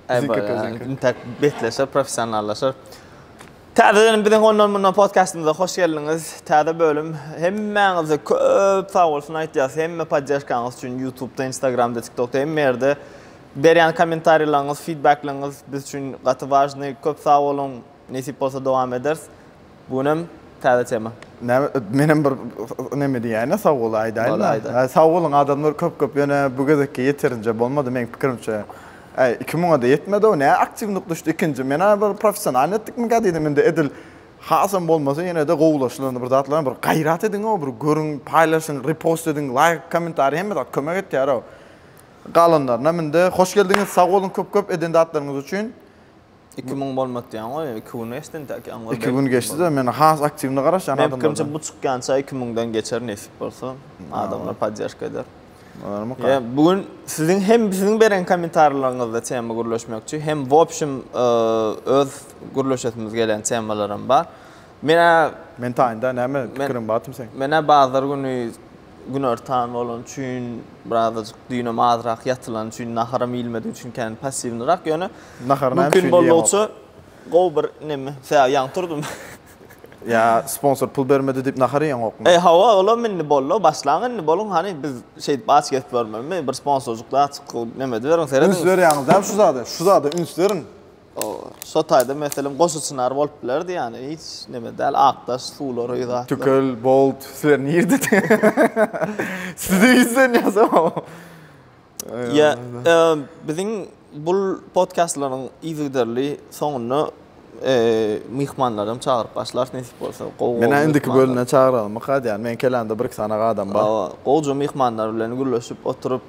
Biziňki biziňki. Intek betleşer, professionallaşar. Täzeden biziň ondan mundan podcastymyza hoş geldiňiz. Täze bölüm. Hemmäňize köp sag bolsun aýtýas. Hemme poddeşkaňyz üçin YouTube-da, Instagram-da, TikTok-da hemme ýerde berýän kommentariýalaryňyz, feedback-laryňyz biz üçin gaty wažnyý. Köp sag boluň. Nesip bolsa dowam ederis. Bu günem täze tema. Näme men hem bir neme diýäýin-ä sag bol aýdaýyn-da. Sag boluň adamlar köp köp ýöne bu gezekki ýeterinje bolmady meň pikirimçe. Äý iki müňe-de ýetmedi-ow nä aktiwnyk düşdi ikinji men-ä bir professionalny etdikmikä diýdim indi edil hasam bolmasa ýene-de gowulaşdyr bir zatlaram bir gaýrat ediň-ow bir görüň paýlaşyň repost ediň laýk kommentariý hemme zat kömek etýär-ow galanlarynam indi hoş geldiňiz sag boluň köp köp eden zatlaryňyz üçin Iki müň bolmat diýen goý, iki gün geçdi intäk ýaňy. Iki gün geçdi-de, men has aktiwny garaşýan adamlardan. Meniň pikirimçe bu çykýança iki müňden geçer nesip bolsa. Adamlar podderşka eder. Bolarmyka? Bu gün siziň hem siziň beren kommentarlaryňyzda tema gürleşmekçi, hem wobşim öz gürleşesimiz gelen temalaram bar. Men-ä Men taýynda näme pikirim batym seň? Men-ä bazar güni günortan bolany üçin birazajyk düýnem azrak ýatylany üçin naharam iýilmedigi üçin kän passiwnyrak ýöne Naharyny hem mümkin boldugyça gowy bir neme sebäbi ýaňy turdum. Ýa sponsor pul bermedi diýip nahar iýeňokmy? E hawa olam indi bollo başlaň indi boluň hany biz şeýdip aç gezip ýörmeli mi bir sponsorjyk zat çykyp neme ediberiň serediň. Üns berýäňiz däl şu zada şu zada üns beriň. O şo taýda meselem goşy çynar bolup bilerdi ýani hiç neme däl akdaş suwlar öý zatlar. Tükel, bolt, sizler nirde? Sizi ýüzden ýazamam. Ýa biziň bul podkastlaryň yzygiderli soňunda myhmanlaram çagyryp başlars nesip bolsa gowy gowy. Menä indiki bölümden çagyralymyka diýýän men kelämde bir iki sanaga adam bar. Gowyja myhmanlar bilen gürleşip oturyp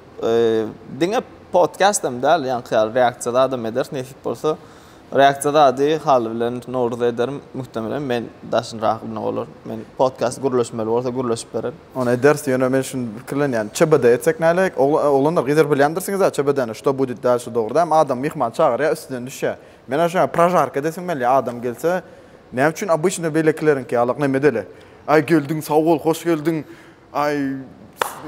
Diňe podcast hem däl, ýaňky ýaly reaksiýa zadam ederis nesip bolsa. Reaksiýa zady haly bilen Nowruza ederim. Muhtemelen men daşyny rahatlygyna bolar. Men podcast gürleşmeli bolsa gürleşip bererin. Ony ederis, ýöne men şuny pikirlenýän. ÇBD etsek näleýek? Oglanlar gyzar bilýändirsiňizä ÇBD-ni, Što Budit Dalşe dogry dämi? Adam myhman çagyrýar, üstünden düşýär. Men aýşo ýaly prožarka edesim gelýär, adam gelse, näme üçin obyçnyý beýlekileriňki ýalak, nemedeli? Aý geldiň, sag bol, hoş geldiň, Aý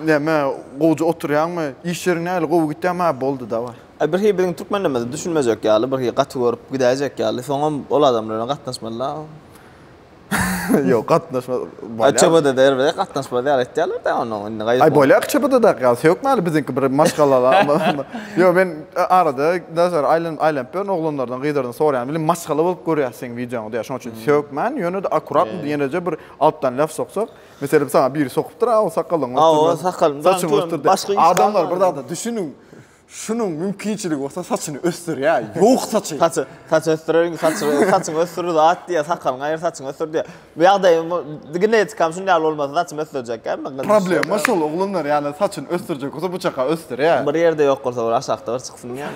näme gowja oturýaňmy? Iş ýeriň nähili gowy gitýämi? Hä boldy dawaý. Aý birhi biziň türkmenlerimizi düşünmejek ýaly birhi gaty görüp gidäýjek ýaly soňam ol adam bilen gatnaşmaly-la. Ýok gatnaşma bolýar. Aý çobada der bize gatnaşmaz ýaly etýärler-dä ony indi gaýyp. Aý bolýar çobadada ýaly sökmäli biziňki bir maşgalala. Ýok men arada daşary aýlanyp aýlanyp ýörün oglanlardan gyzlardan soraýan bilen maşgala bolup görýäs seň wideoňy diýýär şoň üçin sökmän ýöne-de akuratno ýeneje bir altdan laf soksak. Meselem saňa biri sokupdyr aw sakalyň ösdürme. Aw sakalyň saçyň ösdür. Başga iş. Adamlar bir zada düşüniň. Şunuň mümkinçiligi bolsa saçyny ösdürýä. Ýok saçy. Saçy saç ösdüreriň saçy saçyň ösdür zat diýä sakalyň aýyr saçyň ösdür diýä. Bu ýagdaý genetikam şuny ýaly bolmasa saçymy ösdürjek kä men. Problema şol oglanlar ýaly saçyny ösdürjek bolsa bu çaka ösdürýä. Bir ýerde ýok bolsa bir aşakda bir çyksyn ýa.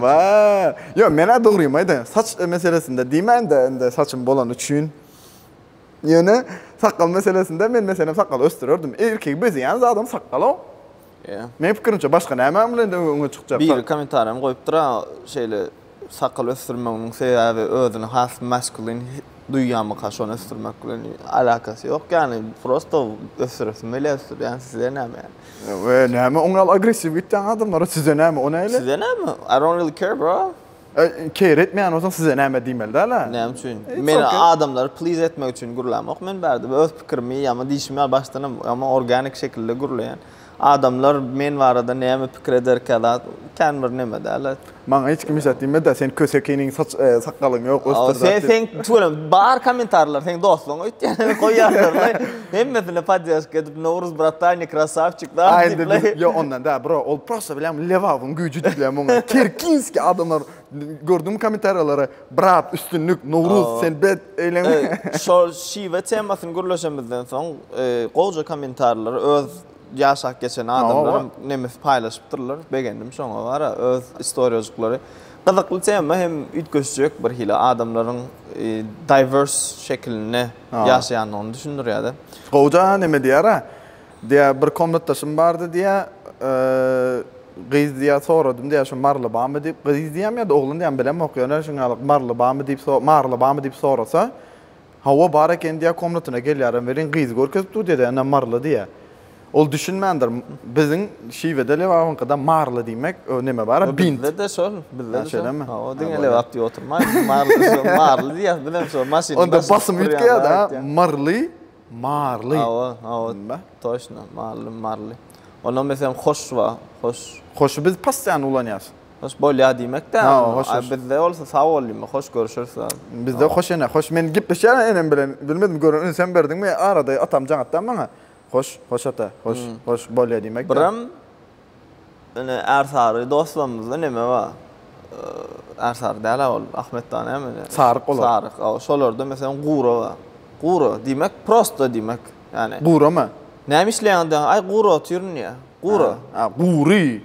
Wa. Ýok menä dogrymy aýdaýan saç meselesinde diýmäýin-de indi saçym bolany üçin. Ýöne sakgal meselesinde men meselem sakgal ösdürerdim. Erkegi bezeýän zadam sakgal-ow. Ýa. Meň pikirimçe başga näme bilen de öňe çykjak. Biri kommentariýam goýupdyr-a, şeýle sakgal ösdürmeginiň sebäbi özüni has maskulin duýýamyka şony ösdürmek bilen alakasy ýok ýaly. Prosto ösdüresim gelýär ösdürýän size näme ýaly. We näme oňňal agressiw gitýäň adamlara size näme o näle. Size näme I don't really care bro. E, keýr etmeýän bolsaň size näme diýmeli däl-ä. Näme üçin? Men okay. adamlary please etmek üçin gürlämok. Men bärde öz pikirimi ýa-da diýşimi ýaly başdan hem organik şekilde gürleýän. Adamlar men barada näme pikir ederkä zat kän bir näme däl. Maňa hiç kim hiç zat diýmedi. Sen kösekiniň saç e, sakgalyň ýok ösdür. Sen sen tüweleme bar kommentarlar seň dostlugyň öýtýän goýýarlar. Hemmesine podyaşka edip Nowruz brata ne krasavçik da dipley. Yo ondan da bro ol prosta bilen levawyň güýji dipley muňa. Terkinski adamlar gördüm komentarýalary brat üstünlik Nowruz sen bet eýleme. Şol şiwe temasyny gürleşemizden soň gowja komentarýalary öz ýaşap geçen adamlaram nemes paýlaşypdyrlar begendim şoňa gara öz istoriýajiklary. Gyzykly tema hem üýtgeşjek birhili adamlaryň diverse şekilinde. ýaşaýandygyny düşündirýär-de. Gowja näme diýýär-ä? Diýýär, bir komnatdaşym bardy diýýär, gyz diýýär, soradym diýýär, şu Marly bamy diýip, gyz diýýärmi ýa-da oglan diýýärmi bilemok, ýöne şuňalyk Marly bamy diýip, Marly bamy diýip sorasa, Hawa, bar eken diýýär, komnatyna gelýärem welin, gyzy görkezip dur diýýär-de, ene Marly diýýär. Ol düşünmändir. Biziň şiwede Lebabyňkyda marly diýmek, o neme bar, bint. Bizde-de şol, bizde-de şol. Hawa, diňe Lebap diýip oturmaý. Marly diýýäs, biziň şol maşyn. Onda basym üýtgeýär-de, myrly, marly. Hawa, hawa, toçno, marly, marly. Ondan meselem hoş bar, hoş. Hoşy biz possyýany ulanýas. Hoş bolýar diýmek-de. Hawa, hoş. A bizde bolsa sag bol diýmek, hoş görüşeris. Bizde hoş ene, hoş. Men gepleşýärin enem bilen, bilmedim gören ünsem berdiňmi, arada atam jaňatdan maňa. Hoş, hoş ata, hoş, hoş, bolýa diýmek ýok. Birem ine ärsary dostlarymyzda neme bar? Ärsary däl-ä ol, Ahmetda näme? Saryk olar. Saryk, aw, şolarda meselem Gura bar. Gura, diýmek prosta diýmek. Ýani. Gurama? Näme işleýäňiz diýäňiz, aý gura otyryn diýýär. Gura. A, gury.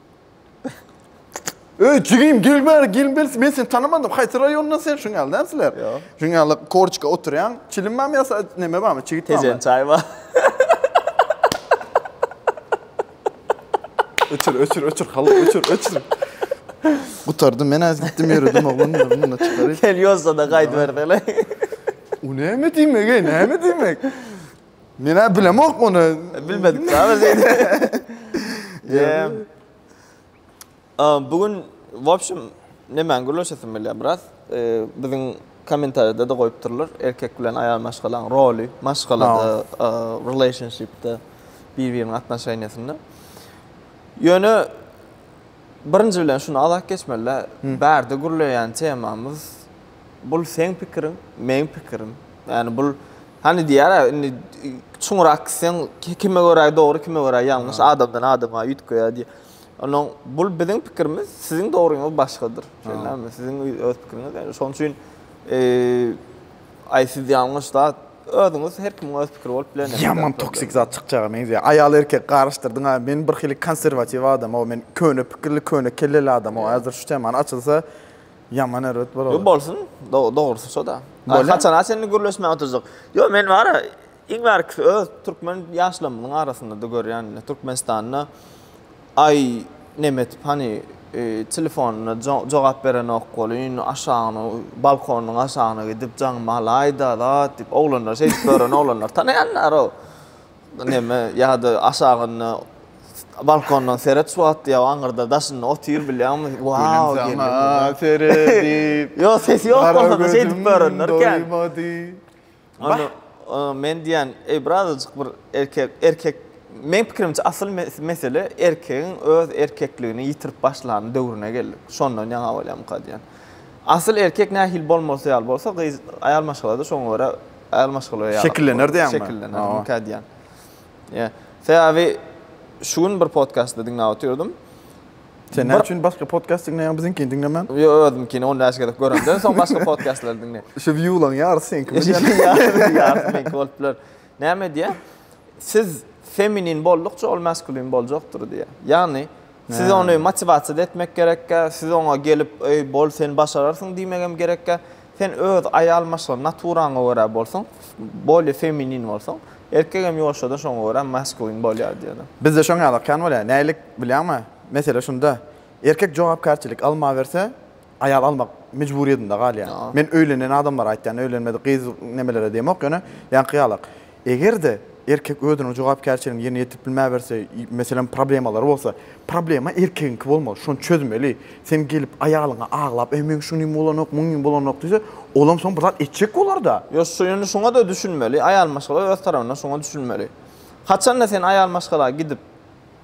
Öý jigim gel bäri gelin bersi men seni tanamadym haýsy raýondan sen şuň ýaly näme sizler? Ýok. Şuň ýaly korçka oturýaň çilim barmy ýa näme barmy çigit barmy? Tejen çaý bar. Öçür öçür öçür haly öçür öçür. Gutardym men az gitdim ýöredim oglan bunu çykaryp. Gel ýolsa da gaýdyberseler. O näme diýmek ey näme diýmek? Men-ä bilemok ony. E, bilmedik däl diýdi. Eee. Am bu gün wobşim nemäň gürleşesim gelýär biraz. Eee, biziň kommentariýada-da goýup durlar, erkek bilen aýal maşgalaň roly, maşgalada, eee, relationship-de, bir-biriniň atnoşeniýasynda. Ýöne birinji bilen şuny azak geçmeli-dä, bärde gürleýän temamyz, Bul seň pikiriň, meň pikirim. Ýani bul hany diýýärä indi çuňurak gitseň kime görä dogry, kime görä ýalňyş adamdan adama üýtgeýär diýip. Onuň bul biziň pikirimiz, siziň dogryňyz başgadyr. Şeýlemi? Siziň öz pikiriňiz ýa şonuň üçin aý siz ýalňyş zat özüňiz her kimiň öz pikiri bolup bilendir. Ýaman toksik zat çykjaga meňzeýär. Aýal erkek garyşdyrdyň a men bir hili konserwatiw adam o men köne pikirli köne kelleli adam o häzir şu temany açylsa Ýaman erbet bolar. Ýok bolsun, dogrusy şo-da. Gaý haçana çenli gürleşmäge oturjak. Ýok, men bara iň bärkisi öz türkmen ýaşlarymyzyň arasynda-da görýän, Türkmenistanda aý nemetip hany telefonyna jogap berenok welin, aşagyna, balkonyň aşagyna gidip jaňyma alaý-da zat diýip, oglanlar şeýdip ýören oglanlar tanaýan-da-row. Neme ýa-da aşagynda balkondan seret suw atýa, aňyrda daşynda otyr bilýäňmi? Wow! Saňa seredip. Ýo ses ýok bolanda şeýdip göründir ekän. Onda men diýen, eý birazajyk bir erkek, erkek meň pikirimçe asyl mesele erkegiň öz erkekligini ýitirip başlan döwrüne geldik. Şondan ýaňa bolýamyka diýen. Asyl erkek nähili bolmalysy ýaly bolsa gyz, aýal maşgala-da şoňa görä Äl maşgala ýaly. Şekillener diýýäňmi? Şekillener, nika diýýän. Ýa. Sebäbi şu gün bir podkastda diňläp oturdym. Sen näme üçin başga podkast diňleýäň, biziňkini diňlemän? Ýok, özümkini 10 näçe gezek göremden soň başga podkastlary diňleýän. Şu wiewlaň ýarysy seňki bolýar. Ýarysy meňki bolup biler. Näme diýýär? Siz feminin boldukça ol maskulin boljakdyr diýýär. Ýagny Siz ony motiwasiýada etmek gerekkä, siz oňa gelip, Eý, bol, sen başararsyň diýmegem gerekkä. Sen öz aýal maşgala naturaňa görä bolsaň, bolýa feminin bolsaň, erkegem ýoşa-da şoňa görä maskulin bolýar diýýärler. Bizde şoň ýaly okýan bolýar. Nälik bilýäňmi? Mesele şunda, erkek jogapkärçilik almaberse, aýal almak mejburyýetinde galýar. Men öýlenen adamlara aýtýan, öýlenmedik gyz nemelere diýemok, ýöne ýaňky ýalak. Eger-de erkek özüniň jogapkärçiligini ýerine ýetirip bilmäberse, meselem, problemalary bolsa, problema erkegiňki bolmaly, şony çözmeli. Sen gelip aýalyňa aglap, Eý, meň şunym bolanok, muňym bolanok diýse, olam soň bir zat etjek bolar-da. Ýok, şu indi şuňa-da düşünmeli, aýal maşgala öz tarapyndan şuňa düşünmeli. Haçan-da sen aýal maşgala gidip,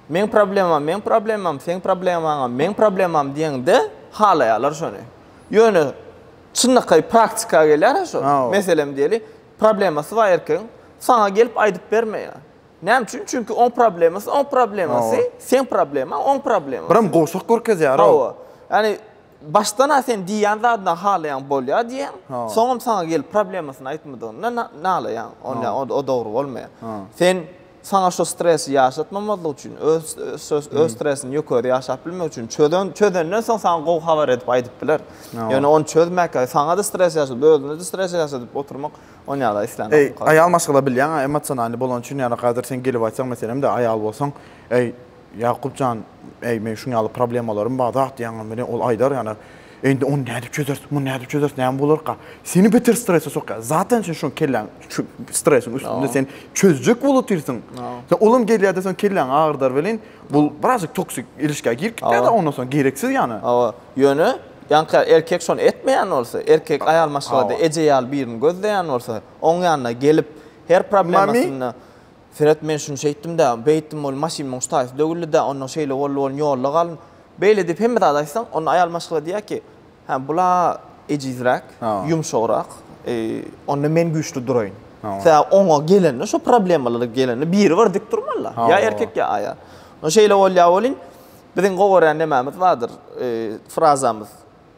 Meň problemam, meň problemam, seň problemaňam, meň problemam diýeňde halaýarlar şony. Ýöne çynlakaý praktika gelýär-ä şo. Meselem diýeli, problemasy bar erkegiň, saňa gelip aýdyp bermeýär. Näme üçin? Çünki oň problemasy oň problemasy, seň problemaň oň problemasy. Biram gowşak görkezýär-ow. Hawa. Ýani başdan-a sen diýýän zadyňdan halaýaň bolýar diýýäň, soňam saňa gelip problemasyny aýtmadygyndan nalaýaň. Onda o dogry bolmaýar. Sen. Saňa şu stresi ýaşatmamazlyk üçin, öz öz öz stresini ýökeri ýaşap bilmek üçin çözen çözenden soň saňa gowy habar edip aýdyp biler. Ýöne ony çözmäkä saňa-da stres ýaşadyp, özüne-de stres ýaşadyp oturmak ony ýa-da islämok. Aýal maşgala bilýäň-ä emosionalny bolany üçin ýa-da gadyr sen gelip aýtsaň meselem-de aýal bolsaň, eý, Ýakup jan, äý, meň şuň ýaly problemalarym bar zat diýýäňem welin, ol aýdar, ýöne, Indi ony nädip çözersiň, muny nädip çözersiň, näme bolarka? Seni beter strese sokýar. Zaten sen şoň kelläň şu stresiň üstünde, sen çözjek bolup otyrsyň. Sen olam gelýär-de, soň kelläňi agyrdar welin, bu birazjyk toksik ilişkä girip gitýär-de ondan soň, gereksiz ýana. Hawa, ýöne, ýaňky erkek şony etmeýän bolsa, erkek aýal maşgalada eje ýaly birini gözleýän bolsa, oň ýanyna gelip, her problemasyny Seret, men şuny şeýtdim-dä, beýtdim, ol maşyn muň ştaýysy dögüldi-dä, onnoň şeýle boldy, bolny ýolda galdym. Beýle diýip hemme zady aýtsaň, onda aýal maşgala diýýär ki, Hä, bul-a ejizräk, ýumşagrak, onda men güýçli duraýyn. Sebäbi oňa gelende, şo problemalara gelende biri bir dik durmaly-da, ýa erkek, ýa aýal. Onda şeýle bolýar welin, biziň gowy görýän nemämiz bardyr, frazamyz.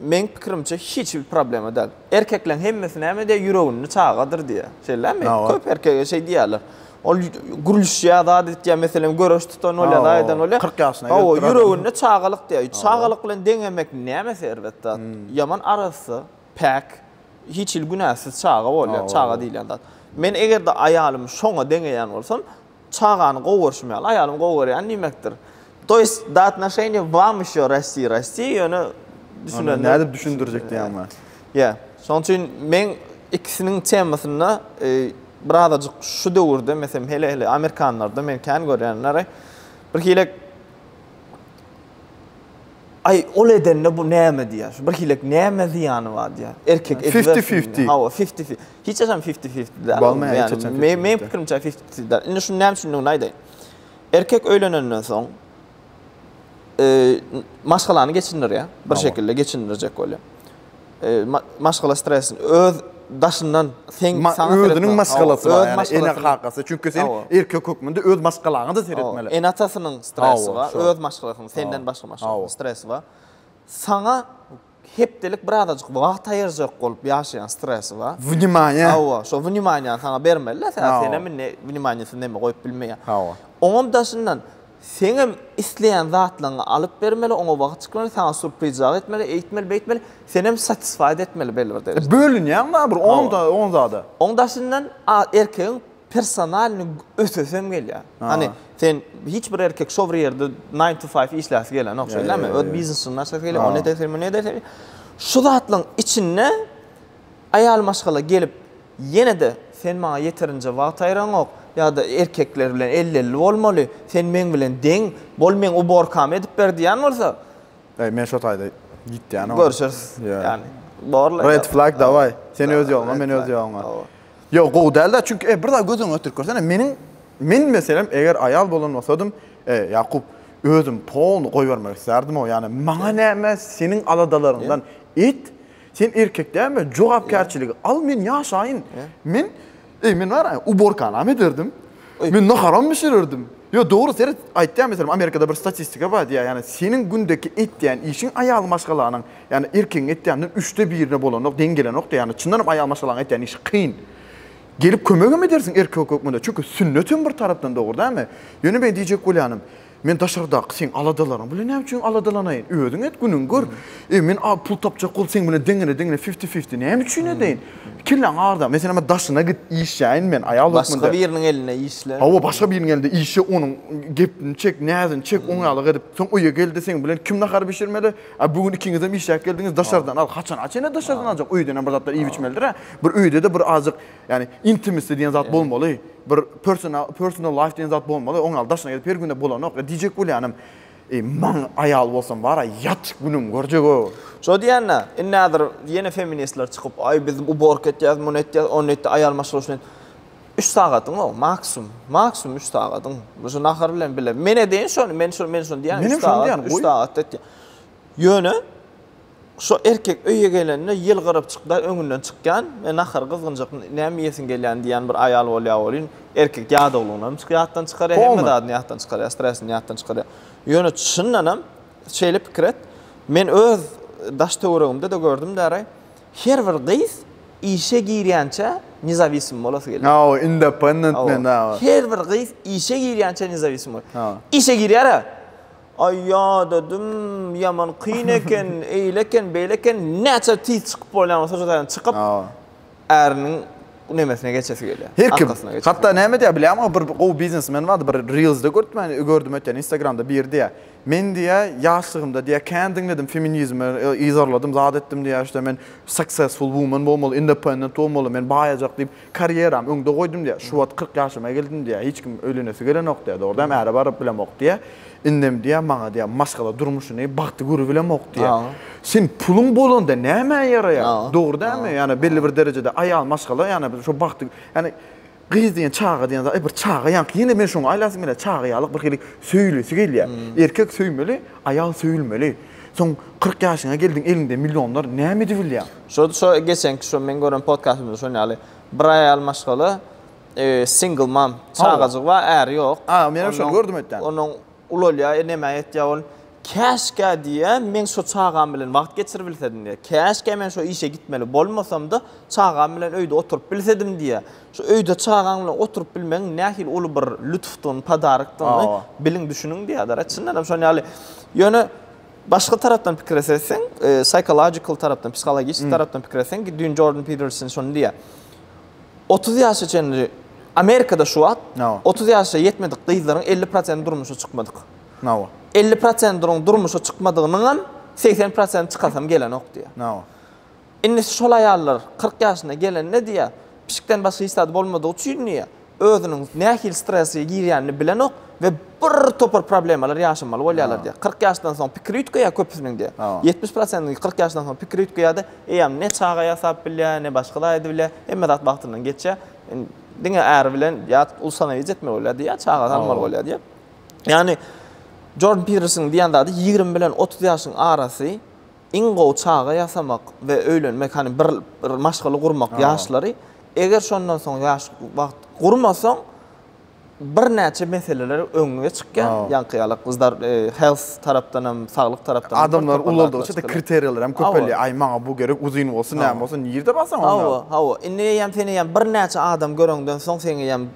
Meň pikirimçe hiç bir problema däl. Erkekleň hemmesi näme diýýär, ýüreginde çagadyr diýýär. Şeýlemi? Köp erkege şeý diýýärler. Ol gürlüşýär, zat etýär, meselem, göreş tutan bolýar, zat eden bolýar. 40 ýaşyna gelip durady. Ýüreginde çagalyk diýýär. Çagalyk bilen deňemek nämesi erbet zat. Ýaman arassa, päk, hiç hili günäsiz çaga bolýar, çaga diýilýän zat. Men eger-de aýalymy şoňa deňeýän bolsam, Çagany gowy görşüm ýaly aýalymy gowy görýän diýmekdir. To ýest do atnoşeniýa wam ýşo rasti rasti ýöne düşünen. Nädip düşündirjek diýýäňmi? Ýa. Şoň üçin men ikisiniň temasynda birazajyk şu döwürde meselem hele hele amerikanlarda men kän görýänleri bir hilek Aý ol edende bu näme diýýär. Şu bir hilek näme zyýany bar diýýär. Erkek edip. Fifty fifty. Hawa fifty fifty. Hiç haçan fifti fifti däl. Bolmaýar hiç haçan fifti fifti. Meň pikirimçe fifti fifti däl. Indi şuny näme üçindigini aýdaýyn. Erkek öýlenenden soň e, maşgalany geçindirýär. Bir şekilde geçindirjek bolýar. E, maşgala stresini öz daşyndan sen Ma, sana özüniň maşgalasy bar, yani ene kakasy. Çünki sen erkek hökmünde öz maşgalaňa da seretmeli. Ene atasynyň stresi bar, öz maşgalasynyň senden başga maşgalasynyň stresi bar. Sana Hepdelik bir azajyk wagt aýyrjak bolup ýaşaýan stresi bar. Wnimaýa. Hawa, şo wnimaýany saňa bermeli-de, sen, sen hem indi wnimaýasyz neme goýup bilmeýäň. Hawa. Oňam daşyndan, sen hem isleýän zatlaryňy alyp bermeli, oňa wagt çykmaly, saňa surprizjak etmeli, eýtmeli, beýtmeli, sen hem satisfied etmeli belli bir derejede. Bölünýäň barybir, oň-da, oň zada. Oň daşyndan, a, erkegiň personalny ötesem gelýär. Hani sen hiç bir erkek şo bir ýerde 9 to 5 işläsi gelenok, şeýlemi? Öz biznesini açasy gelýär, ony edesi, muny edesi. Şu zatlaryň içinde aýal maşgala gelip, ýene-de sen maňa ýeterinje wagt aýyraňok ýa-da erkekler bilen elli-elli bolmaly, sen meň bilen deň, bol meň uborkamy edip ber diýen bolsa, Eý, men şo taýda ýitýänim. Görüşeris. Ýa. Ýani, borla. Red flag dawai. Sen öz ýoluňa, men öz ýoluňa. Ýok, gowy däl-de, çünki e, bir zat göz öňüňe getirip görsene, meniň, men, meselem, eger aýal bolan bolsadym, e, Ýakup, özüm polny goýbermek islärdim-ow, ýagny, maňa näme, seniň aladalaryňdan et, sen erkek dälmi, jogapkärçiligi al, men ýaşaýyn. Men, eý, men bar a, uborkanam ederdim, men naharam bişirerdim. Ýok, dogry, seret, aýtýan, meselem, Amerikada bir statistika bar diýýär, ýagny, seniň gündeki etýän işiň aýal maşgalanyň Ýagny erkegiň etýäniniň üçde birine bolanok, deň gelenok-da, ýagny çyndan hem aýal maşgalaň etýän işi kyn. Gelip kömegem edersiň erkek hökmünde, çünki sünnet hem bir tarapdan dogry dälmi? Ýöne men diýjek bolýanym, men daşardaky seň aladalaryň bilen näme üçin aladalanaýyn? Özüň et, günüňi gör. E, men a, pul tapjak bolup seň bilen deňine-deňine, fifti-fifti näme üçin edeýin? Kelläňi agyrda. Meselem, a, daşyna git, işläýin men, aýal Başga hökmünde. biriniň elinde işle. Hawa, başga biriniň elinde işle, onuň gepini çek, näzini çek, oňýalyk edip. Soň öýe gel-de, seň bilen kim nahar bişirmeli? A bu gün ikiňizem işläp geldiňiz, daşardan al. Haçana çenli daşardan aljak? Öýdenem bir zatlar iýip içmeldir-ä. Bir öýde-de bir azajyk, ýagny intimacy diýen zat bolmaly. Bir personal personal life diýen zat bolmaly. Oň ýaly daşyna gezip her gün-de bolanok. Ýa diýjek bolýanym, eý, maň aýal bolsam bar-a, ýat, günüňi görjeg-ow. Şo diýýän-ä, indi häzir ýene feministler çykyp, aý, biz uborka etýäs, muny etýäs, ony etýäs, aýal maşgala üçin et. Üç sagadyň o, maksum, maksum üç sagadyň. Şu nahar bilen bile. Men edeýin şony, men şony, men şony diýýän. Üç sagat, üç sagat diýýän. Ýöne, şu erkek öýe gelende ýylgyryp çykda öňünden çykýan, men nahar gyzgynjak, näme iýesiň gelýän diýýän bir aýal bolýar welin, erkek ýadawlygyny ýatdan çykarýar, hemme zadyny ýatdan çykarýar, stresini ýatdan çykarýar. Ýöne çyndanam şeýle pikir et, men öz daş-töweregimde-de gördüm däraý, Her bir gyz işe girýänçä nezawism bolasy gelýär. Hawa, independent men, hawa. Her bir gyz işe girýänçä nezawism bolasy. Hawa. Işe girýär-ä. Aý ýadadym, ýaman kyn eken, eýle eken, beýle eken, näçe tiz çykyp bolýan bolsa şo taýdan çykyp, äriniň nemesine geçesi gelýär. Her kim. Hatda näme diýýär bilýärmiňiz, bir gowy biznesmen bardy, bir reelsde görüpdim, gördüm öten instagramda biri diýýär. Men diýýä ýaşlygymda diýýä kän diňledim feminizmi yzarladym zat etdim diýýä işte men successful woman bolmaly independent bolmaly men baýajak diýip karýeram öňde goýdum diýýä şu wagt kyrk ýaşyma geldim diýýä hiç kim öýlenesi gelenok diýýä dogrudanam äre baryp bilemok diýýä indem diýýä maňa diýýä maşgala durmuşyny bagty görübilemok diýýä sen puluň bolanda nämä ýaraýar dogry dälmi ýani belli bir derejede aýal maşgala ýani şo bagty ýani Gyz diýen çaga diýen zat, bir çaga ýaňky ýene men şoňa aýlasym gelýär, çaga ýalyk bir hili söýülesi gelýär. Erkek söýmeli, aýal söýülmeli. Soň kyrk ýaşyňa geldiň, eliňde millionlar, näme edibilýäň? Şo şo geçenki şo men gören podkastymyzda şon ýaly bir aýal maşgala single mom çagajygy bar äri ýok. A, menem şony gördüm ötden. Onuň Ulalýar, e, näme etýär ol? Käşgä diýýä, men şo çagam bilen wagt geçiribilsedim diýýä. Käşgä men şo işe gitmeli bolmasam-da, çagam bilen öýde oturyp bilsedim diýýä. Şu öýde çagaň bilen oturyp bilmegiň nähili uly bir lütfdygyny, padarykdygyny biliň, düşüniň diýýärler. E, çyndanam şonuň ýaly. Ýöne başga tarapdan pikir etseň, psychological tarapdan, psihologiçi tarapdan pikir etseň, düýn Jordan Peterson şony diýýär, Otuz ýaşa çenli, Amerikada şu wagt otuz ýaşa ýetmedik gyzlaryň elli prosenti durmuşa çykmadyk. Elli prosentrň durmuşa çykmadygynyňam segsen prosenti çykasym gelenok diýýär. Indi şol aýallar kyrk ýaşyna gelende diýýär, pişikden başga hiç zady bolmadygy üçin diýýär, özüniň nähili strese girýänini bilenok we bir topar problemalar ýaşamaly bolýarlar diýýär. Kyrk ýaşdan soň pikiri üýtgeýär köpüsiniň diýýär. Ýetmiş prosentiniňki kyrk ýaşdan soň pikiri üýtgeýär-de, Eýýäm ne çaga ýasap bilýär, ne başga zat edip bilýär. Hemme zat wagtyndan geçýär. Indi diňe äri bilen ýa uly sanaýjy etmeli bolýardy, ýa çagasy almaly bolýar diýip. Ýagny Jordan Piderson diýen zady ýigrimi bilen otuz ýaşyň arasy iň gowy çaga ýasamak we öýlenmek, hany bir bir maşgala gurmak ýaşlary. Eger şondan soň ýaş wagt gurmasaň, birnäçe meseleler öňe çykýar. Ýaňky ýaly gyzlar health tarapdan hem, saglyk tarapdan hem. Adamlar ulaldygyça da kriteriýalar hem köpelýär. Aý, maňa bu gerek, uzyn bolsun, näme bolsun, nirde barsaň onda. Hawa, hawa. Indi eýýäm sen eýýäm birnäçe adam göreňden soň seň eýýäm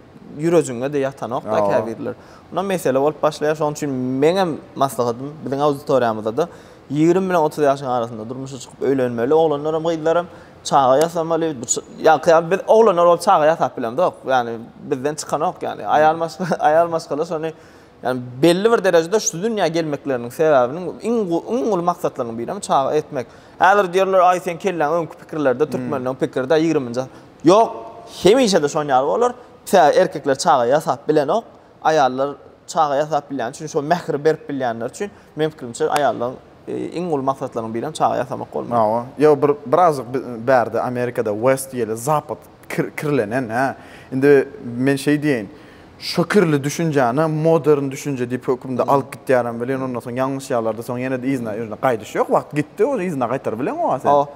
ýürejiňe-de ýatanok-da käbirler. Mundan mesele bolup başlaýar. Şonuň üçin meňem maslahatym biziň auditoriýamyzda-da ýigrimi bilen otuz ýaşyň arasynda durmuşa çykyp öýlenmeli oglanlaram, gyzlaram. Çaga ýasamaly. Ýa-da biz oglanlar bolup çaga ýasap bilemzok. Ýagny bizden çykanok ýagny. Aýal maşgala, aýal maşgala şony ýagny belli bir derejede şu dünýä gelmekleriniň sebäbiniň iň iň uly maksatlarynyň biri hem çaga etmek. Häzir diýerler, aý seň kelläň öňki pikirlerde türkmenleň pikirde ýigriminji Ýok, hemişe-de şon ýaly bolar. Erkekler çaga ýasap bilenok. Aýallar çaga ýasap bilýäni üçin, şol mähri berip bilýänleri üçin, meň pikirimçe, aýallaryň iň uly maksatlarynyň birem çaga ýasamak bolmaly. Hawa. Ýa bir birazjyk bärde Amerikada West ýeli Zapad kirlenen, hä? Indi men şeý diýeýin, şo kirli düşünjäni modern düşünje diýip hökümde alyp gitýärem welin, ondan soň ýalňyşýarlar-da, soň ýene-de yzyna ýöne gaýdyş ýok. Wagt gitdi, ony yzyna gaýtaryp bileňok-a sen. Hawa.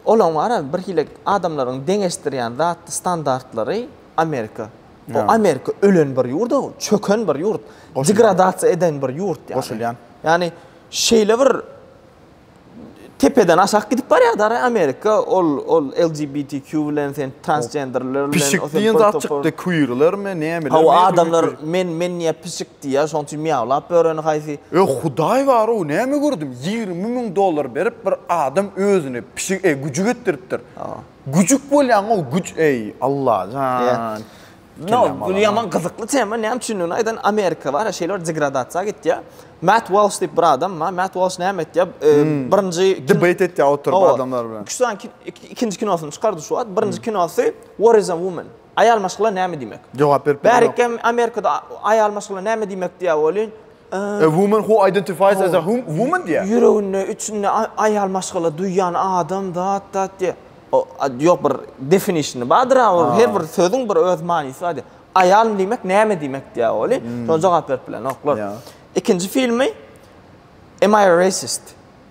Olaň bar-a, birhili adamlaryň deňeşdirýän zatdy standartlary Amerika. Bu Amerika ölen bir ýurt, çöken bir ýurt, degradasiýa eden bir ýurt ýaly. Goşulýan. Ýani şeýle bir tepeden aşak gidip barýar da Amerika ol ol LGBTQ bilen sen transgenderler bilen Pişik diýen zat çykdy, queerlermi, nämeler. Hawa adamlar men men niýe pişik diýýär, şonuň üçin miýawlap böreni haýsy. Ýa Hudaý bar ow näme gördüm, ýigrimi müň dollar berip bir adam özüni pişik e güjük etdiripdir. Güjük bolýaň o güç eý Allajan. No, bu ýaman gyzykly tema, näme üçindigini aýdan Amerika bar, şeýle bir degradasiýa gitýär. Matt Walsh diýip bir adam bar, Matt Walsh näme etýär? Birinji debate etýär oturyp adamlar bilen. Şu an ikinji kinosyny çykardy şu wagt. Birinji kinosy War is a Woman. Aýal maşgala näme diýmek? Jogap berip bilemok. Bärik hem Amerikada aýal maşgala näme diýmek diýýär welin, A woman who identifies as a hum woman diýýär. Ýüreginde, içinde aýal maşgala duýýan adam, zat, zat diýýär. O, a, ýok, bir definition-y bardyr-a, ol her bir sözüň bir öz manysy bar diýýär. Aýal diýmek näme diýmek diýýär welin, şoňa jogap berip bilenoklar. Ikinji filmi Am I a Racist?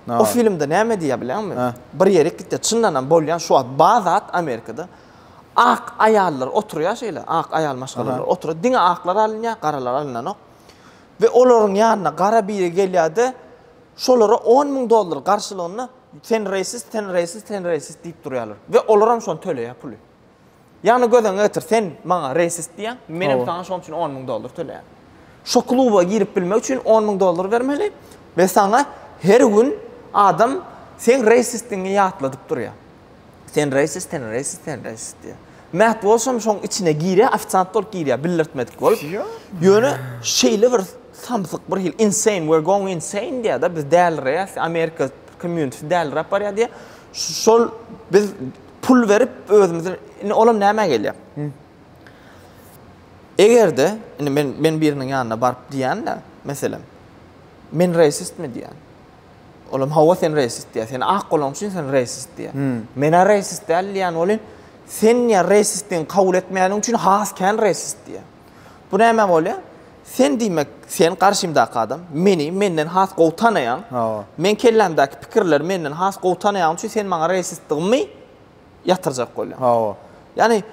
O filmde näme diýýär bilýäňmi? Bir ýerik gitýär, çyndanam bolýan şu wagt bar zat Amerikada. Ak aýallar oturýar şeýle, ak aýal maşgalalar oturýar. Diňe aklar alynýar, garalar alynanok. We olaryň ýanyna gara biri gelýär-de, şolara on müň dollar garşylygynda sen reýsist, sen reýsist, sen reýsist diýip durýarlar. We olaram şony töleýär puly. Ýagny göz öňüňe getir, sen maňa reýsist diýýäň, menem saňa şonuň üçin on müň dollar töleýän. Şo kluba girip bilmek üçin on müň dollar bermeli we saňa her gün adam seň reýsistigiňi ýatladyp durýar. Sen reýsiz, sen reýsiz, sen reýsiz diýýär. Mähti bolsam şoň içine girýär, ofisiant bolup girýär, bildirtmedik bolup. Ýöne şeýle bir samsyk bir hil insane, we're going insane diýýär-de, biz dälireýäs, Amerika community däliräp barýar diýýär. Şol biz pul berip özümizi, indi olam nämä gelýär? Eger-de, indi men men biriniň ýanyna baryp diýýän-de, meselem, men reýsistmi diýýän. Olam hawa sen reýsist diýýär. Sen ak bolaň üçin sen reýsist diýýär. Men-ä reýsist däl diýýän welin, sen diýýär reýsistligiňi kabul etmeýäniň üçin has kän reýsist diýýär. Bu näme bolýar? Sen diýmek, sen garşymdaky adam, meni menden has gowy tanaýaň. Hawa. Meň kellämdäki pikirleri menden has gowy tanaýaň üçin sen maňa reýsistdigimi ýatyrjak bolýan. Hawa. Ýani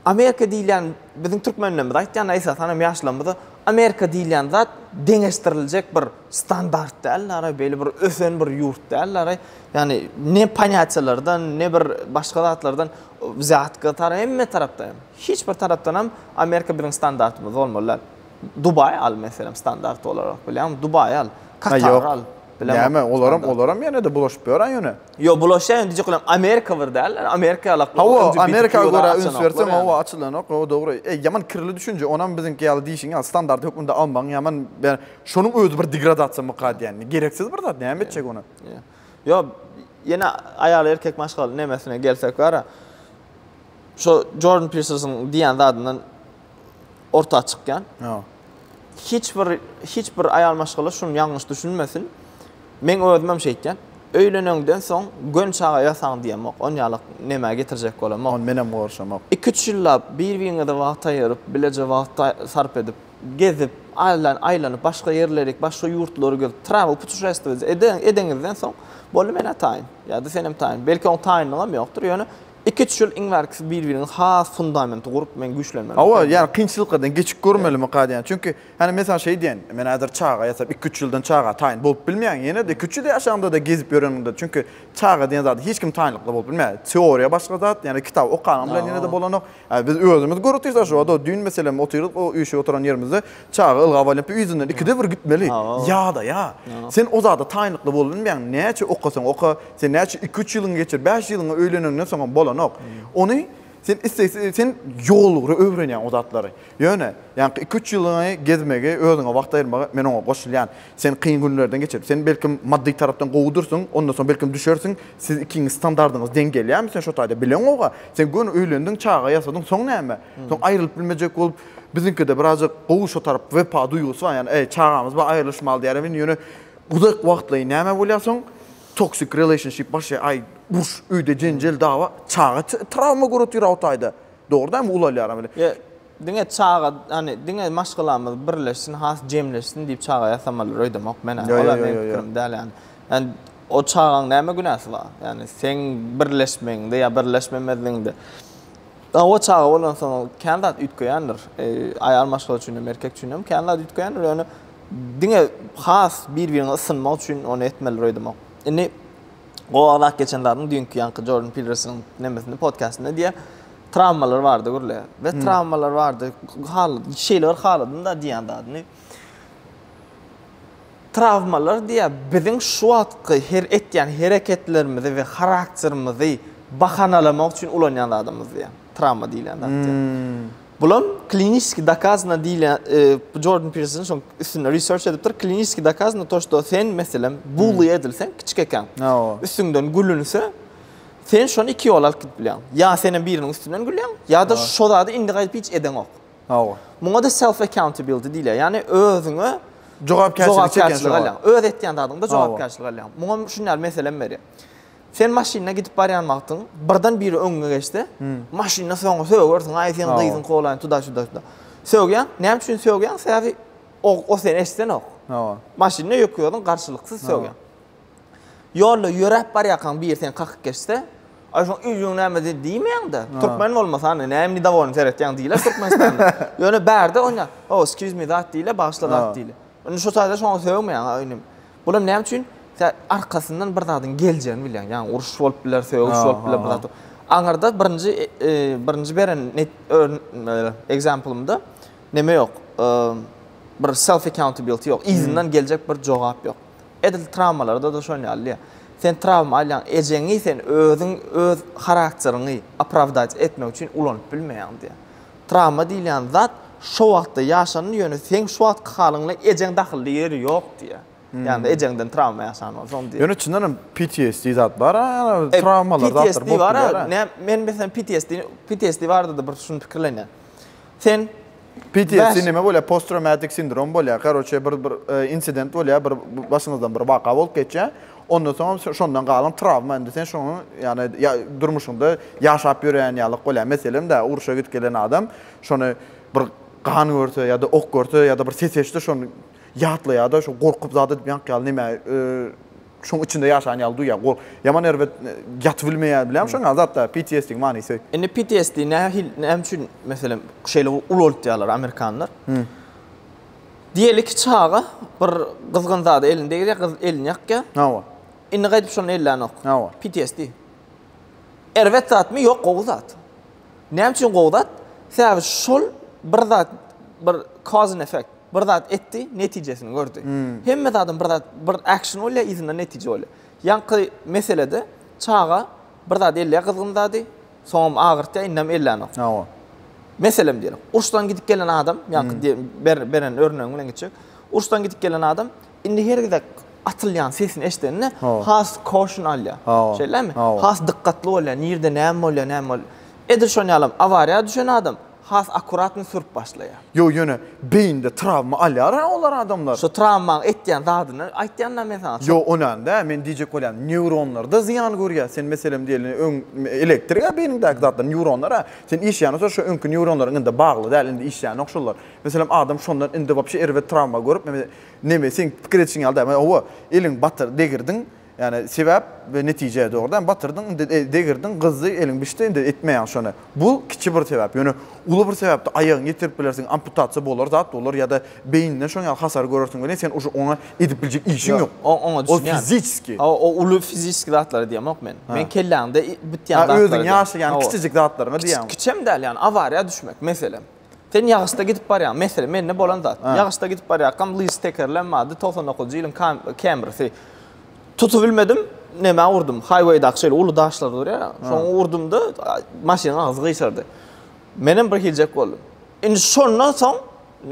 Amerika diýilýän biziň türkmenlerimiz aýtýan esasan hem ýaşlarymyz Amerika diýilýän zat deňeşdiriljek bir standart däl ara beýle bir ösen bir ýurt däl ara. Ýani ne panýatiýalardan ne bir başga zatlardan zýatka tara hemme tarapda hem. Hiç bir tarapdan hem Amerika biziň standartymyz bolmaly däl. Dubaý al meselem standart olarak bilýäňmi? Dubaý al. Katar al. Näme olaram olaram ýene-de bulaşyp ýören ýöne. Ýok, bulaşýan diýjek bolam Amerika bir däl. Ýani Amerika ýalak. Hawa, Amerika görä üns berseň hawa açylanok. Hawa dogry. Eý, ýaman kirli düşünje. Onam biziňki ýaly diýşiň ýaly standart hökmünde almaň. Ýaman ber. Şonuň özi bir degradasiýa mykar diýýän. Gereksiz bir zat. Näme etjek ony? Ýok, ýene aýal erkek maşgal nemesine gelsek bara. Şo Jordan Pirsersiň diýýän zadyndan orta çykýan. Ýa. Hiç bir hiç bir aýal maşgala şuny ýalňyş düşünmesin. Men özüm hem şeýtýän. Öýleneňden soň gön çaga ýasaň diýemok. On ýalak nämä getirjek bolamok. Ony men hem gorşamok. Iki üç ýyllap bir-biriňize wagt aýyryp, bileje wagt sarp edip, gezip, aýlan aýlanyp, başga ýerlerik, başga ýurtlary gezip, travel putuşestwiýa edeňizden soň, boldy men-ä taýyn. Ýa-da sen hem taýyn. Belki oň taýynlygy hem ýokdur, ýöne Iki-üç ýyl iň bärkisi bir-biriň has fundamenti gurup men güýçlenmeli. Hawa, ýagny kynçylyklardan geçip görmelimi kad ýany. Çünki, hany mesalan şeý diýen, men häzir çaga ýasap iki-üç ýyldan çaga taýyn bolup bilmeýän ýene-de iki-üç ýyl ýaşaňda-da gezip ýöreniňde. Çünki çaga diýen zada hiç kim taýynlykly bolup bilmeýär. Teoriýa başga zat, ýagny kitap okanyň bilen ýene-de bolanok. Biz özümiz görüp durýas-a şu wada düýn meselem otyrdyk o üýşüp oturan ýerimizde. Çaga ylgap alýan pi yzyndan ikide bir gitmeli. Ýadaýa. Sen o zada taýynlykly bolbilmeýäň. Näçe okasaň oka, sen näçe iki-üç ýylyňy geçir, bäş ýylyňy öýleniňden soňam bolanok. Ony sen islegsiz, sen ýolugra öwrenýäň o zatlary. Ýöne, ýaňky iki-üç ýylyňy gezmegi, özüňe wagt aýyrmagy men oňa goşulýan. Sen kyn günlerden geçirip, sen belkim maddy tarapdan gowudyrsyň, ondan soň belkim düşersiň, siz ikiňiz standardyňyz deň gelýärmi sen şo taýda bileňoga. Sen göni öýlendiň, çaga ýasadyň, soň näme? Soň aýrylyp bilmejek bolup, Biziňkide birazjyk gowy şo tarap wepa duýgusy bar ýagny eý çagamyz bar aýrylyşmaly diýýärem indi ýöne uzak wagtlaýyn näme bolýar soň toxic relationship başlaýar aý uruş öýde jenjel dawa çaga trawma göretyr awtaýda dogry dämi ulalýaram indi. Ýa diňe çaga ýagny diňe maşgalamyz birleşsin has jemleşsin diýip çaga ýasamalydyr öýdemok men ol ýa meň pikirim däl ýagny ýagny o çagaň näme günäsi bar ýagny seň birleşmegiňde ýa birleşmemezligiňde Oba çaga bolansoň kän zat üýtgeýändir. Aýal maşgala üçin hem, erkek üçin hem kän zat üýtgeýändir. Ýöne diňe has bir-birine ysynmak üçin ony etmelidir öýdemok. Indi gowagrak geçen zadyň düýnki ýaňky Jordan Pilrersiniň nemesinde, podkastynda diýýär, trawmalar bardy gürle we trawmalar bardy. Hal, şeýle bir haladym-da diýýän zadyny. Trawmalar diýýär, biziň şu wagtky her etýän hereketlerimizi we harakterimizi bahanalamak üçin ulanýan zadymyz diýýär. Trawma diýilýän zat diýýär. Bulam kliniski dokazano diýilýän, bu Jordan Pirson şoň üstünde research edipdir. Kliniski dokazano to, şto sen, meselem, bully edilseň, kiçik ekäň, üstüňden gülünse, sen şony iki ýola alyp gidip bilýäň. Ýa senem biriniň üstünden gülýäň, ýa-da şo zady indi gaýdyp hiç edeňok. Hawa. Muňa-da self accountability diýilýär. Ýagny özüňe jogapkärçilik alýaň. Öz etýän zadyňda jogapkärçilik alýaň. Muňa şuny ýaly meselem berýän. Sen maşynda gidip barýan wagtyň, birden biri öňüňe geçse, maşynda soňa sögersiň, aý sen gyzyň kolaýyny tuda şuda şuda. Sögýäň, näme üçin sögýäň? Sebäbi o seni eşidenok. Hawa. Maşynda ýöke özüň garşylyksyz sögýäň. Ýolda ýöräp barýarkaň biri seni kakyp geçse, Aý şoň üýjüň näme diýmeýäň-de, türkmen bolmasana, näme nidowolyny seretýäň diýler Türkmenistanda. Ýöne bärde onýa, Oh, excuse me zat diýle, bagyşla zat diýle. Indi şu taýda şoňa sögmeýäň, a inim. Bulam näme üçin? Sen arkasyndan bir zadyň geljegini bilýäň. Ýaňy uruş bolup biler, sögüş bolup biler, bir zat. Aňyrda birinji birinji beren example-ymda neme ýok, bir self accountability ýok, yzyndan geljek bir jogap ýok. Edil trawmalarda-da şon ýaly. Sen trawma alýaň, ejeňi sen özüň öz harakteriňi opravdat etmek üçin ulanyp bilmeýäň diýýär. Trawma diýilýän zat şo wagtda ýaşandy, ýöne seň şu wagtky halyňda ejeň dahylly ýeri ýok diýýär. Ýagny ejeňden trawma ýaşan bolsaň diýýär. Ýöne çyndan hem PTSD zat bar-a, ýa-da trawmalar zatlar bolup bilýär-ä. PTSD bar-a, men meselem PTSD-ni, PTSD barada-da bir şuny pikirlenýän. Sen PTSD näme bolýar? Post traumatik sindrom bolýar. Garoçe bir bir e, insident bolýar, bir başyňyzdan bir waka bolup geçýär. Ondan soň şondan galan travma indi sen şoňa ýany ya, durmuşyňda ýaşap ýören ýalyk bolýar. Meselem de uruşa gidip gelen adam şony bir gan görse ýa-da ok görse ýa-da bir ses eşitse şony ýatlaýar-da, şu gorkup zat edip ýank ýaly näme e, şoň içinde ýaşan ýaly duýýar. Gor ýaman erbet ýatyp bilmeýär bilýän şoň ýaly zatlar PTSD-iň manysy. Indi PTSD nähili näme üçin meselem şeýle ulaldýarlar amerikanlar. Diýeli ki çaga bir gyzgyn zada elini degirýär gyz elini ýakýar. Hawa. Indi gaýdyp şony ellänok. Hawa. PTSD. Erbet zatmy ýok gowy zat. Näme üçin gowy zat? Sebäbi şol bir zat bir cause and effect. bir zat etdi, netijesini gördi. Hemme zadyň bir zat, bir action bolýar, yzyndan netije bolýar. Ýaňky meselede çaga bir zat elleýär gyzgyn zady, soňam agyrtýar, indem ellänok. Hawa. Meselem diýelim, urşdan gidip gelen adam, ýaňky diýen, beren örnegiň bilen geçjek. Urşdan gidip gelen adam indi her gezek atylýan sesini eşidende has caution alýar. Hawa. Şeýlemi? Hawa. Has dykgatly bolýar, nirde näme bolýar, näme bolýar. Edil şonuň ýalam, awariýa düşen adam, Has akuratny sürüp başlaýa. Ýok ýöne beýinde trawma alýar a olar adamlar. Şu trawmaň etýän zadyny aýtýan da men saňa. Ýok onam däl men diýjek bolýan newronlarda zyýan görýä sen meselem diýeli öň elektrik a beýniňdäki zatlar newronlar a sen işýäňä soň şu öňki newronlaryň indi bagly däl indi işýänok şollar meselem adam şondan indi wapşe erbet trawma görüp neme seň pikir edişiň ýaly däl hawa eliň batyr degirdiň Ýani sebäp we netije dogrudan batyrdyň indi degirdiň gyzdy eliň bişdi indi etmeýäň şony bu kiçi bir sebäp ýöne uly bir sebäpde aýagyňy ýitirip bilersiň amputasiýa bolar zat bolar ýada beýninden şoň ýaly hasar görersiň welin sen uje oňa edip biljek işiň ýok oňa düşünýän ol fiziski hawa o uly fiziski zatlary diýemok men men kelläňde bitýän zatlary diýýän özüň ýaşaýan kiçijik zatlaryňy diýýän kiçem däl ýani awariýa düşmek meselem Sen ýagyşda gidip barýaň. Mesele mende bolan zat. Ýagyşda gidip barýarkam lyž tekerlem bardy, 99-njy ýylyň Camry-si. Tutup bilmedim, nämä urdum? Highway-daky şeýle uly daşlar durýar, şoňa urdum-da, maşynyň agzy gyşardy. Menem bir hiljek boldum. Indi şondan soň,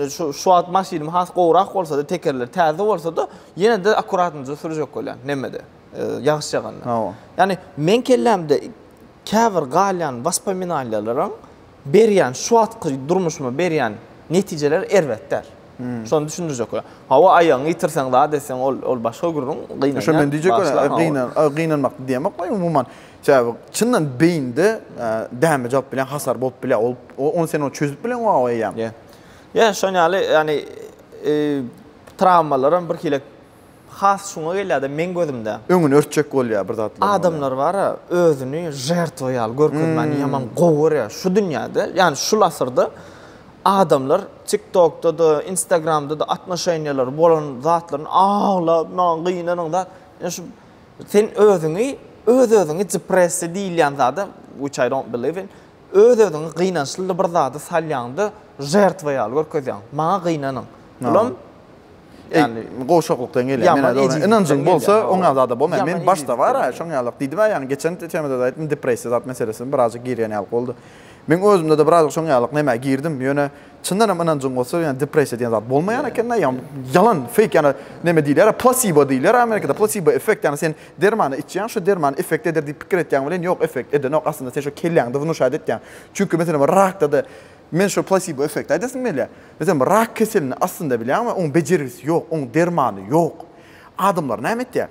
şu şu wagt maşynym has gowrak bolsa-da, tekerleri täze bolsa-da, ýene-de akkuratnyja sürjek bolýan nemede, ýagyş ýaganda. Ýagny, meň kellämde käbir galýan waspominalýalaram, berýän şu wagtky durmuşyma berýän netijeler erbet däl. Şony düşündirjek bolar. Hawa, aýagyňy ýitirseň, zat etseň, ol ol başga gürrüň, gynanýan. Şo men diýjek bolan, gynan, gynanmak diýemok men umuman. Sebäbi çyndan beýinde däme jogap bilen hasar bolup bilýär. Ol ony sen ony çözüp bilen gowy eýýäm. Ýa. Ýa şon ýaly ýani trawmalaram birhili has şuňa gelýärde meň gözümde. Öňüni örtjek bolýar bir zatlaryň bolýar. Adamlar bara özüni žertwa ýaly görkezmäni ýaman gowy görýär şu dünýäde ýani şul asyrda adamlar tik tokda-da instagramda-da atnoşeniýalary bolan zatlaryny aglap maňa gynanyň zat ýa şu sen özüňi öz özüňi depressiýa diýilýän zada which I don't believe in öz özüňi gynançly bir zada salýaňda žertwa ýaly görkezýäň maňa gynanyň bulam Yani gowşaklykdan gelýär. Ýaman Mena ejizlikden ynanjyň bolsa, gelýär, hawa. oňa zada bolmaýar. Ýaman Meniň başda bar-a, ejizlikden şoň ýaly. Diýdim-ä ýaňy geçen te- temada-da aýtdym, depressiýa zat meselesine birazajyk girýän ýaly boldy. Meniň özümde-de birazajyk şoň ýalyk nämä girdim. Ýöne çyndan hem ynanjyň bolsa, ýa depressiýa diýen zat bolmaýan eken-de, ýa ýalan, fake, ýa-da neme diýilýär-ä, plasibo diýilýär-ä Amerikada, plasibo effekt, ýagny sen dermany içýäň, şu derman effekt eder diýip pikir etýäň welin, ýok, effekt edenok, aslynda sen şo kelläňde wnuşat etýäň. Çünki, meselem, rakda-da men şo plasibo effekt aýdasym gelýär. Biz hem rak keselini aslynda bilýän we oň bejergisi ýok, oň dermany ýok. Adamlar näme etýär?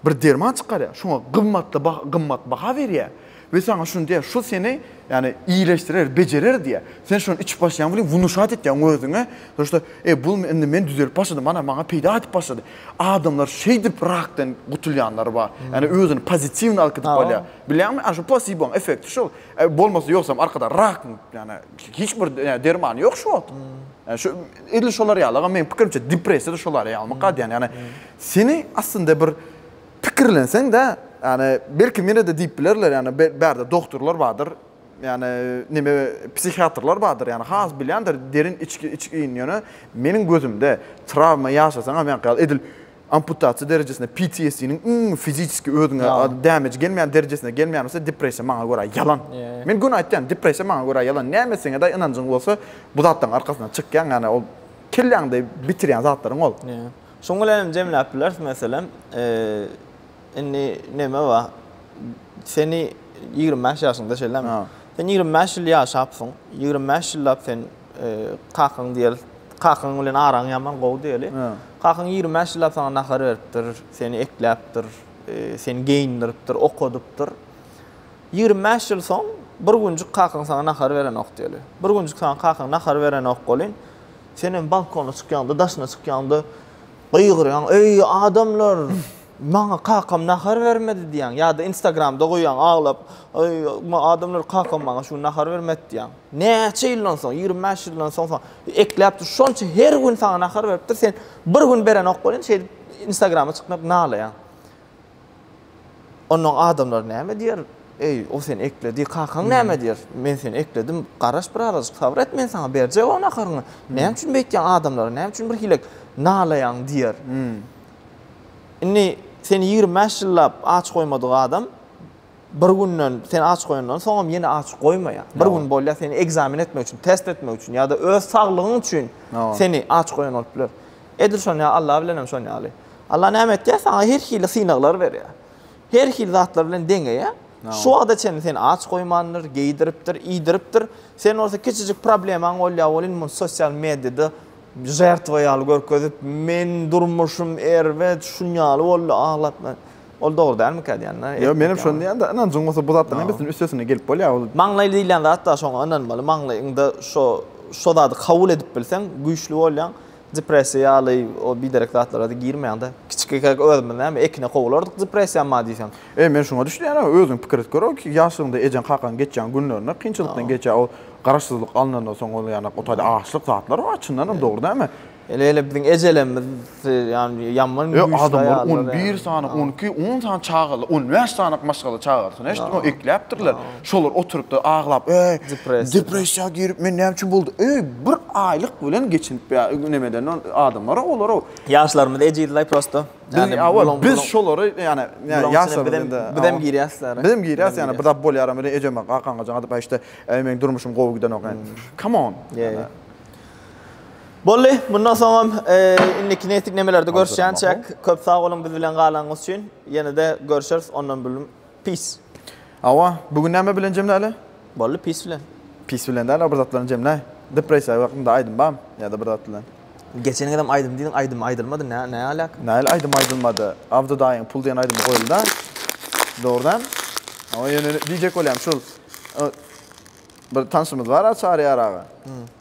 Bir derman çykarýar, şoňa gymmatly baha, gymmat baha berýär we saňa şuny diýýär, şu seni, ýagny, iýleşdirer, bejerer diýýär. Sen şony içip başlaýaň welin, wnuşat etýäň özüňe, to što, e, bu indi men düzelip başladym, ana, maňa peýda edip başlady. Adamlar şeýdip rakdan gutulýanlary bar. Ýagny özüni pozitiwny alkydyp alýar. Bilýäňmi? Ana, şu plasiboň effekti şol. E, bolmasa ýogsam arkada rak, ýagny, İşte hiç bir yani dermanı yok şu wagt. Hmm. Yani şu edil şolar ýaly, men pikirimçe depressiýa da şolar ýaly makat yani. Yani seni aslında bir pikirlenseň de yani belki meni de diýip bilerler yani bärde doktorlar bardyr. Yani neme psihiatrlar bardyr yani has bilýändir derin içki içki ýöne meniň gözümde travma ýaşasaň hem yani edil Amputasiýa derejesinde PTSD-niň iň fizisiki özüňe damage gelmeýän derejesine gelmeýän bolsa depressiýa maňa görä ýalan. Men göni aýtýan, depressiýa maňa görä ýalan. Näme etseňedaý ynanjyň bolsa bu zatlaryň arkasyndan çykýaň, ýagny ol kelläňde bitirýän zatlaryň ol. Şuň bilen hem jemläp bileris meselem, indi neme bar, seni ýigrimi bäş ýaşyňda şeýlemi? Sen ýigrimi bäş ýyl ýaşapsyň, ýigrimi bäş ýyllap sen, Kakaň diýeli, kakaň bilen araň ýaman gowy diýeli. Kakaň ýigrimi bäş ýyllap saňa nahar beripdir, seni ekläpdir, e, seni geýindiripdir, okadypdyr. Ýigrimi bäş ýyl soň bir günjük kakaň saňa nahar berenok diýeli. Bir günjük saňa kakaň nahar berenok welin, senem balkona çykýaňda, daşyna çykýaňda gygyrýaň, Eý, adamlar! Maňa kakam nahar bermedi diýýäň ýa-da instagramda goýýaň aglap, Aý, adamlar kakam maňa şu gün nahar bermedi diýýäň. Näçe ýyldan soň, ýigrimi bäş ýyldan soň soň ekläpdir, şonça her gün saňa nahar beripdir, sen bir gün berenok welin şeýdip instagrama çyknyp nalaýaň. Onnoň adamlar näme diýer? Eý, o seni ekledi, kakaň näme diýer? Men seni ekledim, garaş bir azajyk sabyr et, men saňa berjek o naharyňy. Näme üçin beýtýäň adamlara, näme üçin bir hile nalaýaň diýer. Indi seni ýigrimi bäş ýyllap aç goýmadyk adam bir günden seni aç goýandan soňam ýene aç goýmaýar. Bir gün bolýar seni ekzamen etmek üçin, test etmek üçin ýa-da öz saglygyň üçin seni aç goýan bolup biler. Edil şonuň ýaly Allah bilen hem şonuň ýaly. Allah näme etýär? Saňa her hili synaglar berýär. Her hili zatlar bilen deňeýär. Şu wagta çenli seni aç goýmandyr, geýdiripdir, iýdiripdir. Sen bolsa kiçijik problemaň bolýar, ol indi muny sosial mediada Žertwa ýaly görkezip, Men durmuşym erbet, şunýaly boldy, aglap men. Ol dogry dälmikä diýýänler. Ýok, menem şony diýýän-de, ynanjyň bolsa bu zatlaryň hemmesiniň üstesine gelip bolýar ol. Maňlaý diýilýän zat-da şoňa ynanmaly, maňlaýyňda şo şo zady kabul edip bilseň, güýçli bolýaň, depressiýa ýaly o biderek zatlara-da girmeýäň-de. Kiçikikäk özümiz näme, ekine kowalardyk depressiýa ma diýseň. Eý, men şuňa düşünýärin-ow, özüň pikir edip gör-ow, ýaşlygyňda ejeň-kakaň geçýän günlerini, kynçylykdan geçýän o garaşsyzlyk alnandan soň ol ýanak o taýda açlyk zatlar bar, çyndan hem dogry dämi? Heleýle biziň ejelerimiz ýa-ni ýaman güýçli aýallar. E, adamlar on bir sany, on iki, on sany çagaly, on bäş sany-ak maşgala çagasyny eşitdim-ow, ekläpdirler. Şolar oturypdyr, aglap, eý, depressiýa girip, men näme üçin boldy, eý, bir aýlyk bilen geçinip, ýa, nemeden, adamlar-ow olar-ow. Ýaşlarymyz ejiz-laý prosto. Biz awal biz şolary ýa-ni ýaşlar bilen biz hem girýäs lara. Biz hem girýäs ýa-ni bir zat bolýar hem ejeme kakaňa jaň atyp aýşde eý meniň durmuşym gowy gidenok ýa-ni. Come on. Boldy mundan soň hem indiki netiknemelerde görüşýänçäk köp sag boluň biz bilen galanyňyz üçin ýene-de görüşeris ondan bülüm Pis. Hawa, bu gün näme bilen jemläli? Boldy, pis bilen. Pis bilen däl-a, bir zat bilen jemläý. Depressiýa hakynda aýdym barmy? Ýa-da bir zat bilen. Geçeniňizem aýdym diýdiň, aýdym aýdylmady, näme aläk? Nähili aýdym aýdylmady? Abdy daýyň Pul diýen aýdymy goýuldy-a. Dogry däl? Hawa, ýöne diýjek bolýan şul, bir tanşymyz bar-a, Çary Ýar aga.